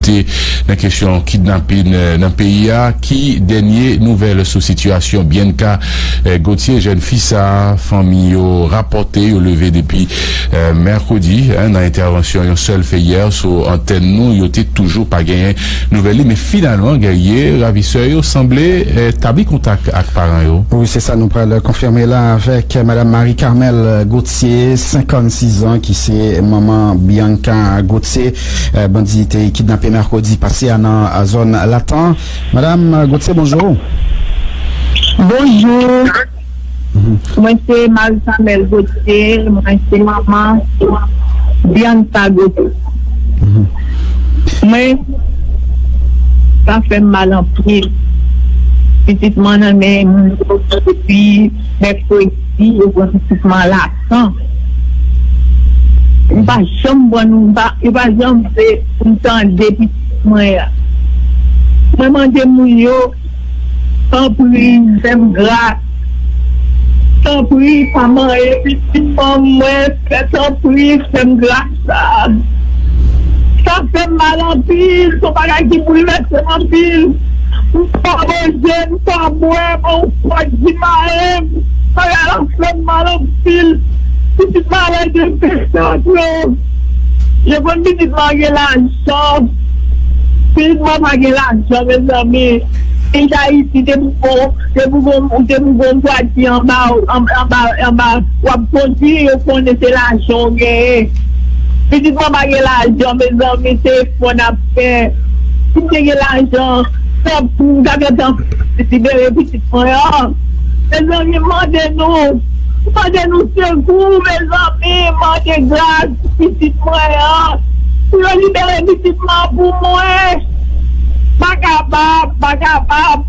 Te nan kesyon kidnapin nan peyi a, ki dènye nouvèl sou sitiyasyon Bianca Gauthier, jèn fi sa a fanmi yo rapòte yo leve depi mèkredi? Nan entèvansyon yon sèl fè yè sou antèn nou, yo te toujou pa genyen nouvèl li, men finalman gèriye ravisè yo sanble tabli kontak ak paran yo. Wi, se sa nou pral konfime la avèk madam Marie Carmelle Gauthier, 56 zan, ki se manman Bianca Gauthier, Bandi te kidnape mèkredi pase a nan zòn Latan. Madam Gauthier bonjou. Bonjou. Mwen se Marie Carmelle Gauthier, mwen se manman Bianca Gauthier. Mwen, sa fè m mal anpil. Pitit mwen nan men moun yo depi mèkredi, yo pran pitit mwen Latan. tan m pa janm pran nou yo pa janm vle pou m tande pitit mwen an mwen mande moun yo tanpri fè m gras tanpri pa marye pitit fanm mwen tanpri fè m gras. Sa fè m mal anpil, se yon bagay ki boulvèse m anpil. M pa manje, m pa bwè, men yon pòt di mare m. Bagay la fè m mal anpil. Pitit m a lè de pechòt yo. Yo konn pitit m a gen lajan. Pitit m an pa gen lajan mezanmi. Peyi Dayiti te pou bon. Se pou gon ou se pou gon gad ki anba w anba anba wap kondwi yo konnen se lajan w genyen pitit mwen pa gen lajan mezanmi se efò nap fè si m te gen lajan tanp pou m ta gentan libere pitit mwen an mezanmi m mande nou m mande nou sekou mezanmi m mande gras pou pitit mwen an pou yo libere pitit mwen an pou mwen m pa kapab m pa kapab.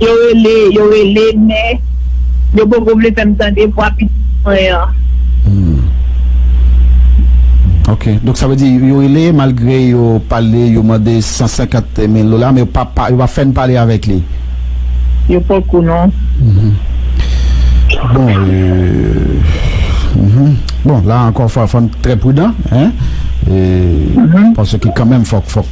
Yo rele, yo rele men yo poko vle fèm tande vwa pitit mwen an. Humm ok donk sa vle di yo rele malgre yo pale yo mande 150 mil dola men yo pa pa yo pa fèn pale avèk li. Yo poko non. Humm bon euh humm bon la ankò fòm trè prudan hein euh paske kanmèm fòk fòk.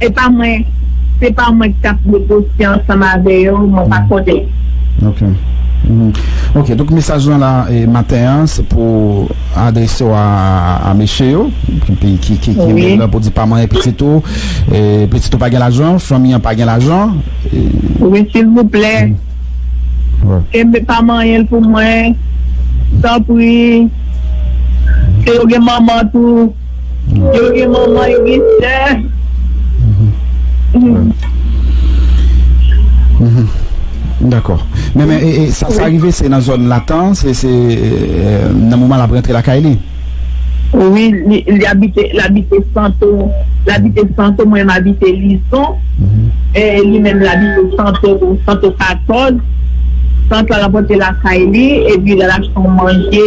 Se pa mwen se pa mwen ki tap negosye ansanm avè yo mwen pa konnen. Ok ok donk mesaj lan la maten an se pou adrese w a mesye yo ki kenbe l pou di pa manyen pitit ou pitit ou pa gen lajan fanmi an pa gen lajan wi silvouplè kenbe pa manyen l pou mwen tanpri si yo gen manman tou Yo gen manman yo gen sè. Dakò men sa rive se nan zòn latan se nan moman lap rantre lakay li. Wi li abite labite santo labite santo mwen m abite lison li menm labite santo santo 14 sant la rapote lakay li epi lal achte yon manje.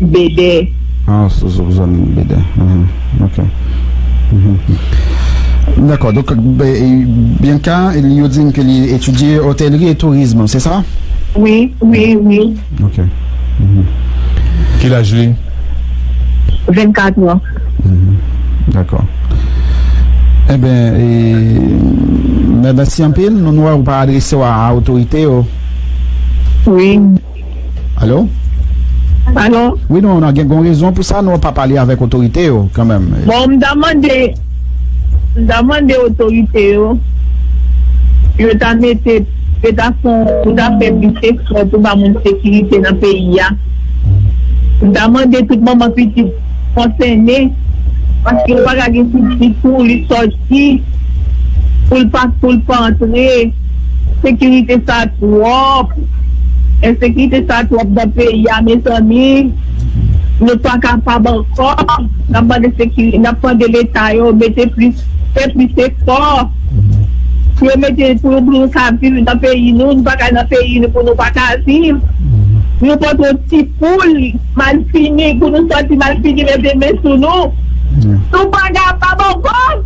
Bede. Ah sou sou zanmi m Bede uhmm ok uhmm dako donk Bianca li yo di m ke li etidye hotellerie et tourisme se sa? Wi wi wi. Ok uhmm ki laj li? 24 ans. Uhmm dako enben e mèsi anpil nou wè ou pa adrese w a otorite yo. Wi. Alo? Alo? Wi non, nan gen gon rezon pou sa nou pa pale avèk otorite yo kanmenm. Bon, m ta mande, m ta mande otorite yo, yo ta mete, yo ta fon, yo ta fè plis efò pou ba moun sekirite nan peyi a. M ta mande tout manman pitit konsène, paske yo pa ka gen pitit pou li sòti, pou l pa, pou l pa antre. Sekirite sa twòp. Ensekirite sa twòp nan peyi a mezanmi nou pa kapab ankò nap mande sekirite nap mande leta yo mete plis fè plis efò pou yo mete pou nou ka viv nan peyi nou nou pa ka nan peyi nou pou nou pa ka viv nou poko ti poul malfini pou nou sòti malfini mete men sou nou nou pa kapab ankò.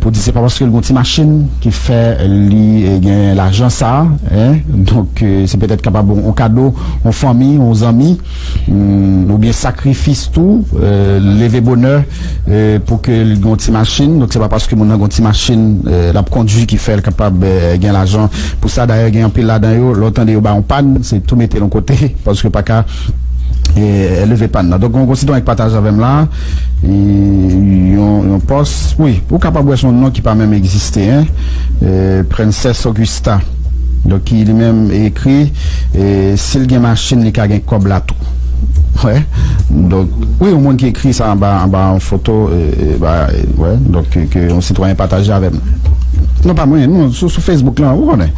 Pou di se pa paske l gon ti machin ki fè li gen lajan sa hein donk se petèt kapab on kado on fanmi on zanmi oubyen sakrifis tou leve bonè pou ke l gon ti machin donk se pa paske moun nan gon ti machin l ap kondwi ki fè l kapab gen lajan pou sa dayè gen anpil ladan yo lè w tande yo bay on pàn se tou mete l on kote paske yo pa ka leve pàn nan donk gon sitwayen k pataje avè m la. Yon pòs wi ou kapab wè son non ki pa menm egziste hein Princess Augusta donk ki li menm ekri sil gen machin li ka gen kòb la tou wè donk wi yon moun ki ekri sa anba anba yon foto wè donk ke yon sitwayen pataje avèm non pa mwen non sou Facebook lan ou konnen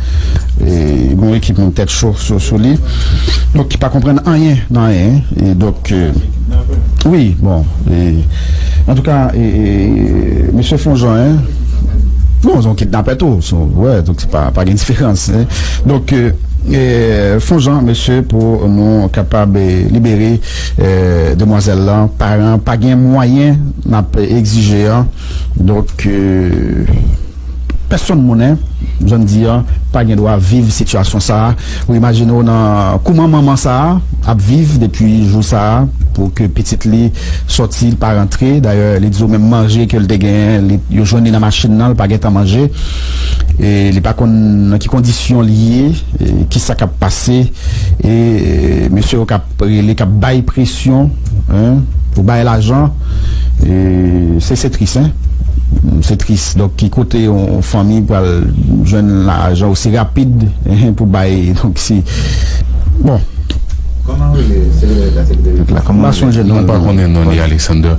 gon ekip moun tèt cho sou li donk ki pa konprann anyen nan anyen donk. Wi bon e antouka e misye fon jan hein non son kidnapè tou son wè donk se pa pa gen diferans hein donk e fon jan mesye pou nou kapab e libere e demwazèl lan paran pa gen mwayen nap egzije an donk e. Pèsonn monnen zòn di an pa gen dwa viv sitiyasyon sa a. Ou imajine w nan kouman manman sa a ap viv depi jou sa a pou ke pitit li sòti li pa rantre. Dayè li di w menm manje ke l te genyen li yo jwenn li nan machin nan li pa gen tan manje e li pa konn nan ki kondisyon li ye e kisa k ap pase e mesye yo k ap Rele kap bay presyon hein pou bay lajan se se tris hein se tris donk ki kote yon fanmi pral jwenn lajan osi rapid hein pou bay donk si bon. Kòman rele sekretè deta sekretè deta. Mpa konnen non li Alexander.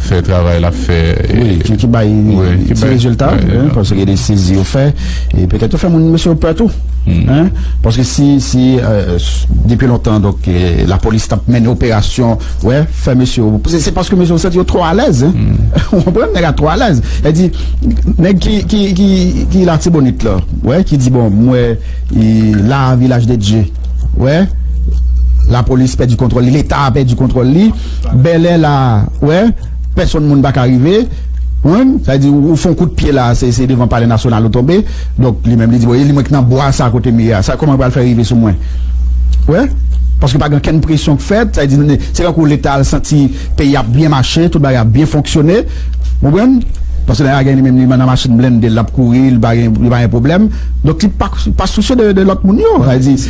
fè travay lap fè wi ki bay ti rezilta paske gen de sezi yo fè e petèt yo fè moun mesye yo pè tou paske si si depi lontan donk lapolis tap mennen operasyon wè fè mesye yo se paske mesye yo santi yo twò alèz ou konprann nèg la twò alèz e di nèg ki ki ki ki latibonit la wè ki di bon m wè la vilaj de dye wè lapolis pèdi kontwòl li leta pèdi kontwòl li. Bèlè la ou wè pèsonn moun pa ka rive jwenn sa vle di ou fon kout pye la se devan palè nasyonal ou tonbe donk li menm li di bon e li mwen ki nan bwa sa kote m ye a sa kòman yo pral fè rive sou mwen ou wè paske pa gen okenn presyon k fèt sa vle di se tankou leta al santi peyi a ap byen mache tout bagay ap byen fonksyone ou konprann paske lè a gen li menm li nan machin blende l l ap kouri li pa gen pwoblèm donk li pa sousye de lòt moun yo sa vle di.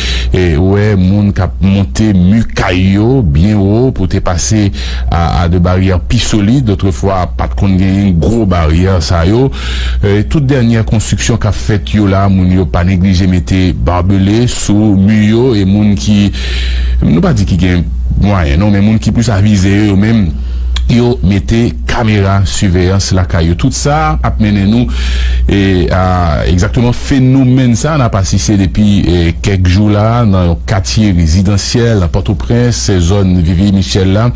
Ou wè moun k ap monte mi kay yo byen wo pou te pase a de baryè pi solid. Otrefwa, pa t konn genyen gwo baryè sa yo. Tout dènyè konstriksyon k ap fèt yo la, moun yo pa neglije mete barbele sou mi yo. E moun ki, nou pa di ki gen mwayen non, men moun ki plis avize yo yo menm, yo mete kamera siveyans lakay yo tout sa ap mennen nou a egzakteman fenomèn sa nap asiste depi kèk jou la nan yon katye rezidansyèl nan pòtoprens se zòn vivi michèl la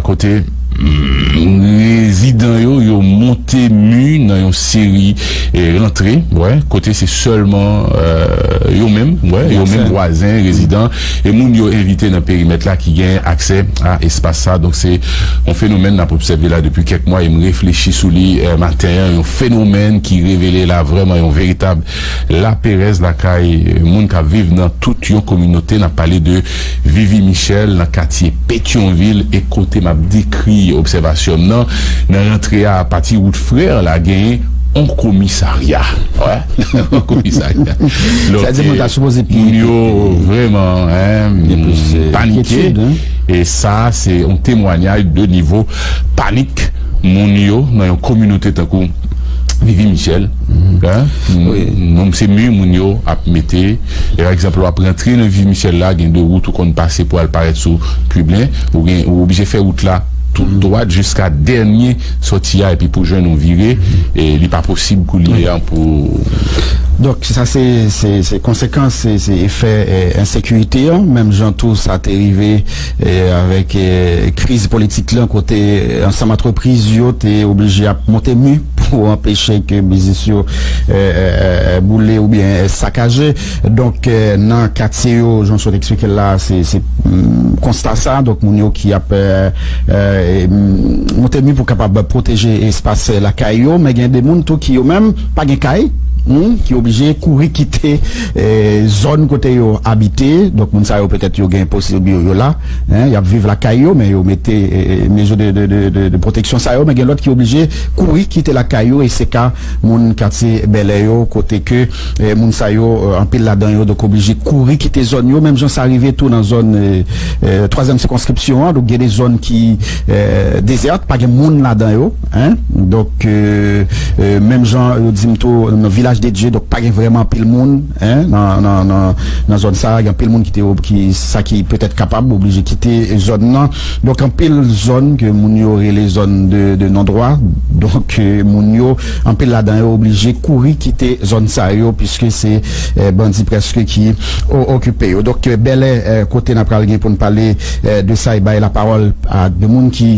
kote rezidan yo yo monte mi nan yon seri rantre kote se sèlman yo menm yo menm vwazen rezidan e moun yo evite nan perimèt la ki gen aksè a espas sa. Donk se yon fenomèn n ap obsève la depi kèk mwa e m reflechi sou li maten an, yon fenomèn ki revele la vrèman yon veritab laperèz lakay moun k ap viv nan tout yon kominote. N ap pale de Vivi Michèl nan katye Petyonvil e kote m ap dekri obsèvasyon m nan, nan rantre a apati wout Frè an la gen. On komisarya wè on komisarya donk moun yo vrèman panike e sa se on temwanyay de nivo panik moun yo nan yon kominote tankou vivi michèl moun se mi moun yo ap mete e ekzanp wap rantre nan vivi michèl la gen de wout ou konn pase pou al parèt sou piblen ou gen ou oblije fè wout la tou dwat jiska dènye. Sòti a epi pou jwenn ou vire e li pa posib koulye an pou. Donk sa se se konsekans se se efè ensekirite an menm jan tou sa te rive avèk kriz politik lan kote ansanm antrepriz yo te oblije ap monte mi pou anpeche ke biznis yo boule oubyen sakaje. Donk nan katye yo jan w sot eksplike l la a se konsta sa donk moun yo ki ap monte mi pou kapab pwoteje espas lakay yo men gen de moun tou ki yo menm pa gen kay ki oblije kouri kite zòn kote yo abite donk moun sa yo petèt yo gen posib yo la y ap viv lakay yo men yo mete mezo de pwoteksyon sa yo men gen lòt ki oblije kouri kite lakay yo e se ka Moun katye Bèlè yo kote ke moun sa yo anpil ladan yo donk oblije kouri kite zòn yo menm jan sa rive tou nan zòn twazyèm sikonskripsyon an donk gen de zòn ki dezète pa gen moun ladan yo donk menm jan yo di m tou nan vilaj de Dye donk pa gen vrèman anpil moun. nan zòn sa a, gen anpil moun ki te ob, ki sa ki petèt kapab oblije kite zòn nan. Donk anpil zòn ke moun yo rele zòn de non dwa, donk moun yo anpil ladan yo oblije kouri kite zòn sa yo piske se bandi prèske ki okipe yo. Donk Bèlè kote nan pral gen pou n pale de sa e bay lapawòl a 2 moun ki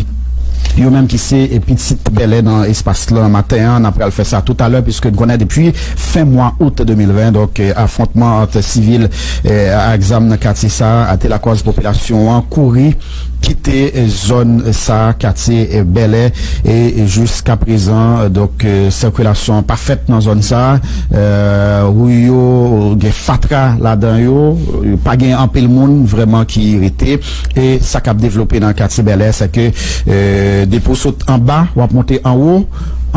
yo menm ki se pitit Bèlè nan espas lan maten an. Nan pral fè sa toutalè piske n konnen depi Fen mwa out 2020, donk, afwontman ant sivil ak zam nan katye sa a te lakòz popilasyon an kouri kite zòn sa a, katye Bèlè, e jiskaprezan, donk, sikilasyon an pa fèt nan zòn sa a. Ri yo gen fatra ladan yo, pa gen anpil moun vrèman ki rete. E sa k ap devlope nan katye Bèlè, sèke depi w sot anba, w ap monte anwo.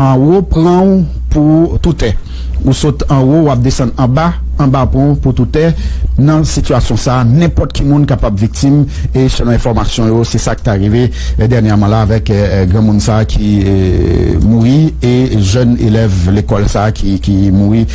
Anwo pran w pou toutè. Ou sot anwo wap desann anba, anba pran w pou toutè. Nan sitiyasyon sa nenpòt ki moun kapab viktim e selon enfòmasyon yo se sa ki ta rive dènyèman la avèk granmoun sa ki mouri e jèn elèv lekòl sa ki mouri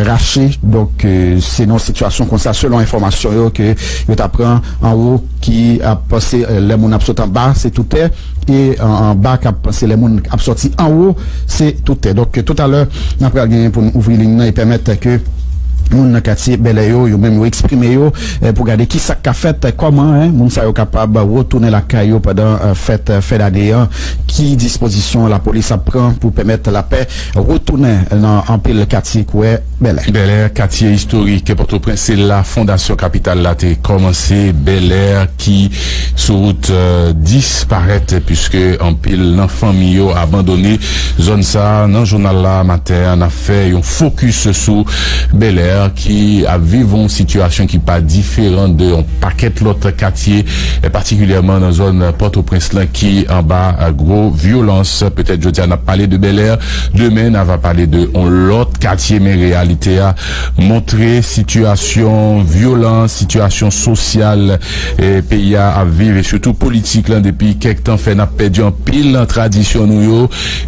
rache donk se nan sitiyasyon konsa selon enfòmasyon yo ke yo ta pran anwo ki ap se lè moun ap sot anba se toutè. e anba kap se lè moun ap sòti anwo se tou tè donk tou talè nan pral gen pou nou ouvri liy nan e pèmèt ke moun nan katye bèlè yo yo menm yo eksprime yo pou gade ki sak ka fèt kòman moun sa yo kapab retounen lakay yo pandan fèt fen dane an ki dispozisyon lapolis ap pran pou pèmèt lapè retounen nan anpil katye kwè. Bèlè. Bèlè, katye istorik Pòtoprens, se la fondasyon kapital la te kòmanse. Bèlè ki sou wout disparèt puiske anpil nan fanmi yo abandone zòn sa. Nan jounal la maten an, n ap fè yon fokis sou Bèlè ki ap viv yon sitiyasyon ki pa diferan de yon pakèt lòt katye, patikilyèman nan zòn Pòtoprens lan ki anba gwo vyolans. Petèt jodi a n ap pale de Bèlè. Demen na va pale de on lòt katye men reyalite a montre sitiyasyon vyolans, sitiyasyon sosyal peyi a ap viv e sitou politik lan depi kèk tan fè nap pèdi anpil nan tradisyon nou yo.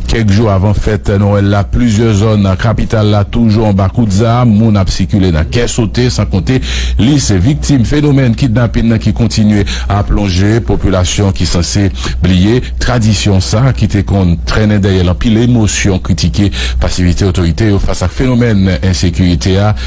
Kèk jou avan fèt Nwèl la plizyè zòn nan kapital la toujou anba kout zam, moun ap sikile nan kè sote san konte lis viktim fenomèn kidnapin nan ki kontinye ap lonje popilasyon ki sanse bliye. Tradisyon sa a, ki te konn trennen dèyè l anpil emosyon, kritike pasivite otorite yo fas ak fenomèn ensekirite a,